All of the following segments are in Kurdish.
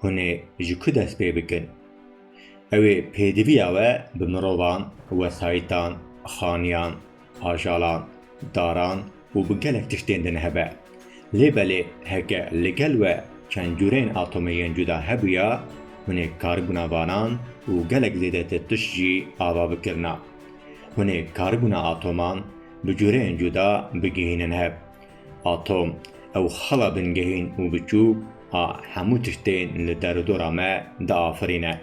Hûn ê ji ku dest pê bikin? Ew ê pêdiviya we bi mirovan, wesayîtan, xaniyan, ajalan, daran û bi gelek tiştên din hebe. Lê belê heke li gel we çend cureyên atomê yên cuda hebûya, hûn ê karibûna vanan û gelek zêdetir tişt jî ava bikirina. Hûn ê karibûna atoman bi cureyên cuda bigihînin hev. Atom, ew xala bingehîn û biçûk a hemû tiştên li derûdora me diafirîne.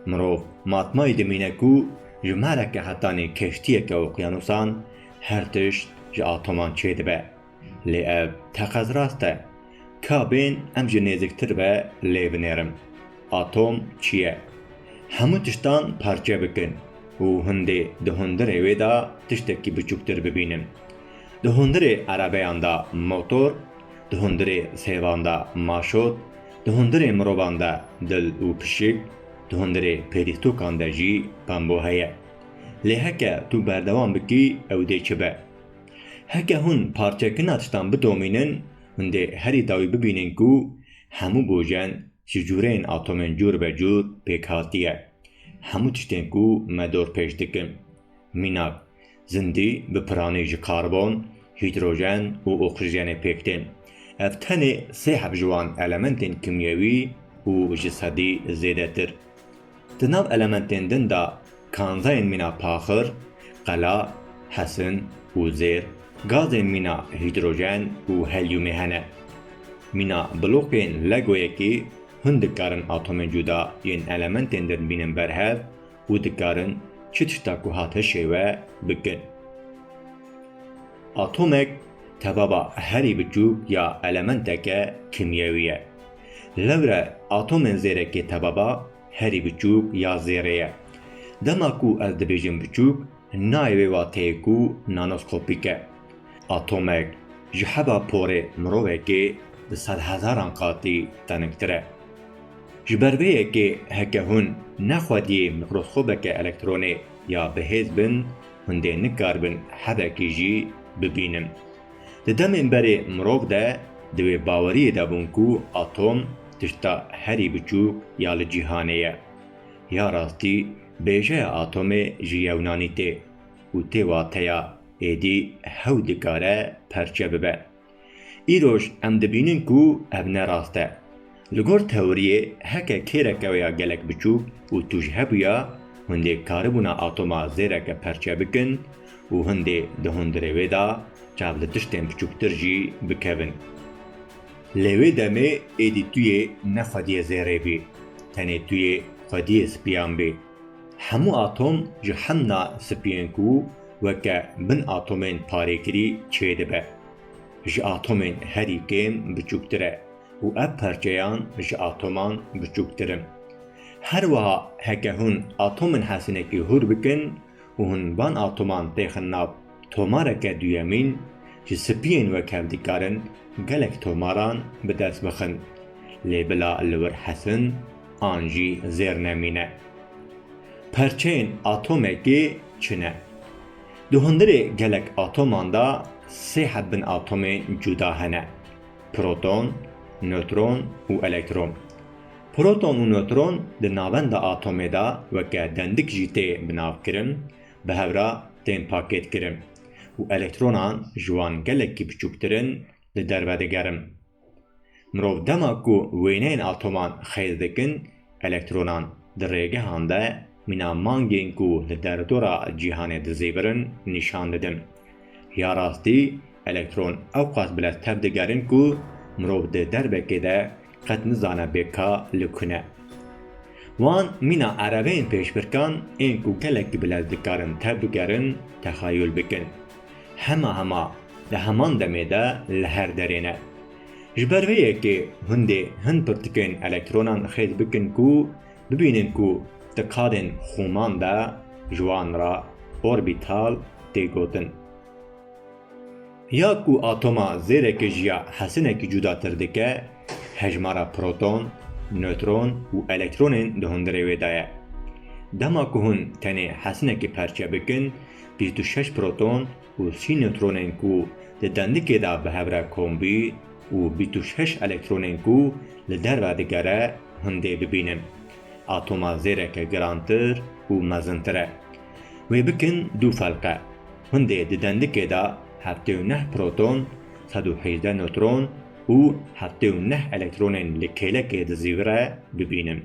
Mirov matmayî dimîne ku ji maleke hetanî keştiyeke oqyanusan her tişt ji atoman çêdibe. Lê ev teqez rast e. Ka bên em jî nêziktir ve lê binêrin. Atom çi ye? Hemû tiştan parçe bikin û hundê di hundirê wê de tiştekî biçûktir bibînin. Di hundirê erebeyan de motor, di hundirê sêvan de maşot, di hundirê mirovan de dil û pişik, di hundirê pêdîstokan de jî pembo heye. Lê heke tu berdewam bikî ew dê çi be? Heke hûn parçekirina tiştan bidomînin, hûn dê herî dawî bibînin ku hemû bojen ji cûreyên atomên cûr be cûr pêk hatiye. Hemû tiştên ku me dorpêş dikin. Mînak, Zindî bi piranî ji karbon, hîdrojen û oksîjenê pêk tên. Ev tenê sê heb ji wan elementên kimyewî û ji sedî zêdetir. Di nav elementên din de kanzayên mîna paxir, qela, hesin û zêr, gazên mîna hîdrojen û helyumê hene. Mîna blokên Legoyekî hûn dikarin atomên cuda yên elementên din bînin ber hev, û dikarin çi tişta ku hate şêwe bikin. Atomek tevaba herî biçûk ya elementeke kîmyewî ye. Lewre atomên zêrekê tevaba herî biçûk ya zêrê ye. Dema ku ez dibêjim biçûk, nayê wê wateyê ku nanoskopîk e. Atomek ji heva porê mirovekê bi sedhezaran qatî teningtir e. Ji ber vê yekê heke hûn ne xwediyê mîkroskobeke elektronê ya bihêz bin, hûn dê nikaribin hevekî jî bibînin. Di demên berê mirov de di wê baweriyê de bûn ku atom tişta herî biçûk ya li cîhanê ye. Ya rastî bêjeya atomê ji yewnanî tê û tê wateya Êdî hewl dikare perçe bibe. Îroj em dibînin ku ev ne rast e. Li gor teoriyê heke kêreke ya gelek biçûk û tûj hebûya hundê karibûna atoma zêreke perçe bikin û hundê di hundirê wê de çav li tiştên biçûktir jî bikevin. Lê wê demê êdî tuyê ne xwediyê zêrê bî, tenê tuyê xwediyê spiyan bî. Hemû atom ji hemna spiyên ku Weke min atomên parêkirî çêdibe. Ji atomên herî kêm biçûktir e û ev parçeyan ji atoman biçûktir in. Her wiha heke hûn atomên hesinekî hûr bikin û hûn van atoman têxin nav tomareke duyemîn, ji spiyên wek hev dikarin gelek tomaran bi dest bixin, lê bila li wir hesin an jî zêr nemîne. Perçeyên atomekê çi ne? Di hundirê gelek atoman de sê heb bin atomên cuda hene, proton, nötron û elektron. Proton û nötron di navenda atomê de weke dendik jî tê binavkirin, bi hev re tên pakêtkirin û elektronan ji wan gelekî biçûktir in li derve digerin. Mirov dema ku wêneyên atoman xêz dikin, elektronan di rêgehan de mîna mangên ku li derdora cîhanê dizêvirin nîşan didin. Ya rastî elektron ewqas bi leztev digerin ku mirov di derbekê de qet nizane bê ka li ku ne. Wan mîna ereveyên pêşbirkan ên ku gelekî bi lez dikarin tev bigerin texeyûl bikin. hema hema di heman demê de li her derê ne. Ji ber vê yekê hundê hin pirtikên elektronan xêz bikin ku bibînin ku di kadên xûman de ji wan re orbital tê gotin. Ya ku atoma zêrekê ji ya hesinekî cudatir dike, hejmara proton, nötron û elektronên di hundirê wê de ye. Dema ku hûn tenê hesinekî perçe bikin, Bîst û şeş proton û sî newtronên ku di dendikê de bi hev re kombî û bîst û şeş elektronên ku li derve digere hundê bibînin. Atoma zêreke girantir û mezintir e. Wê bikin du felqe. Hundê di dendikê de heftê û neh proton, sed û hejdeh newtron û heftê û neh elektronên li kêlekê di zîvire bibînin.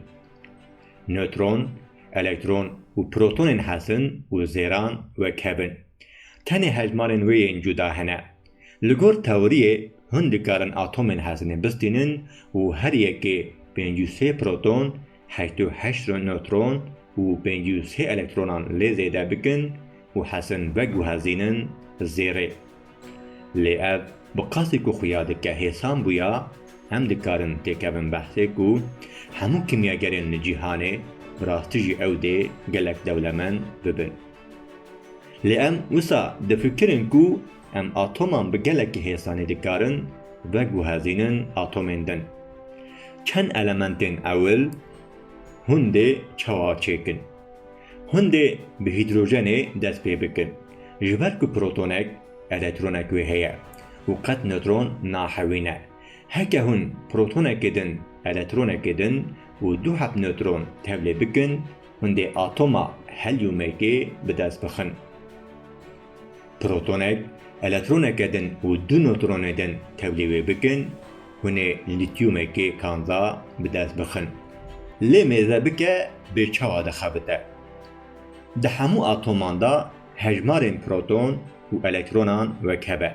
Nötron, elektron û protonên hezin û zêran wek hev in. Tenê hejmarên wê yên cuda hene. Li gor teoriyê hûn dikarin atomên hezinê bistînin û her yekê pêncî û sê proton, heşt û heşt nötron û pêncî û sê elektronan lê zêde bikin û hezin veguhezînin zêrê. Lê ev bi qasî ku xuya dike hêsan bûya, em dikarin têkevin behsê ku hemû kimyagerên li cîhanê bi rastî jî ew dê gelek dewlemend bibin. Lê em wisa difikirin ku em atoman bi gelekî hêsanî dikarin veguhezînin atomên din. Çend elementên ewil hûn dê çawa çêkin? Hûn dê bi hîdrojenê dest pê bikin. Ji ber ku protonek elektronek wê heye û qet newtron nahewîne. Heke hûn protonekê din elektronekê din û du heb newtron tevlê bikin, hûn dê atoma helyûmekê bi dest bixin. Protonek elektroneke din û du newtronê din tevlê wê bikin, hûnê lîtyûmekê kanda bi dest bixin. Lê mêze bike bê çawa dixebite. Di hemû atoman de hejmarên proton û elektronan weke be.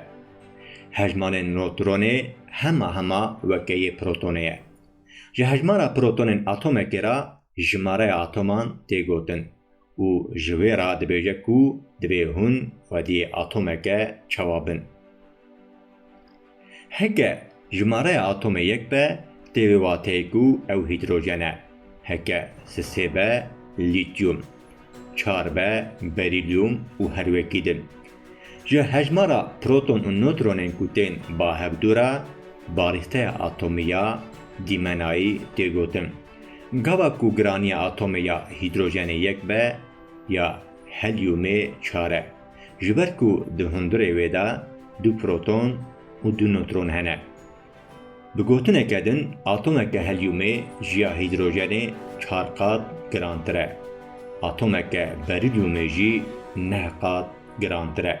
Hejmarên notronê hema hema weke yê protonê ye. Ji hejmara protonên atomekê re jimareya atoman tê gotin. Û ji wê re dibêje ku divê hûn xwediyê atomeke çawa bin. Heke jimareya atomê yek be tê wê wateyê ku ew hîdrojen e, heke sisê be lîtyûm, çar be berîlyûm û herwekî din. Ji hejmara proton û notronên ku tên ba hevdû re barîxteya atomî ya dîmenayî tê gotin. Gava ku giraniya atomê ya hîdrojenê yek be ya helyûmê çar e. Ji ber ku di hundirê wê de du proton û du notron hene. Bi gotineke din atomeke helyumê ji ya hîdrojenê çar qat girantir e. Atomeke berilyumê jî neh qat girantir e.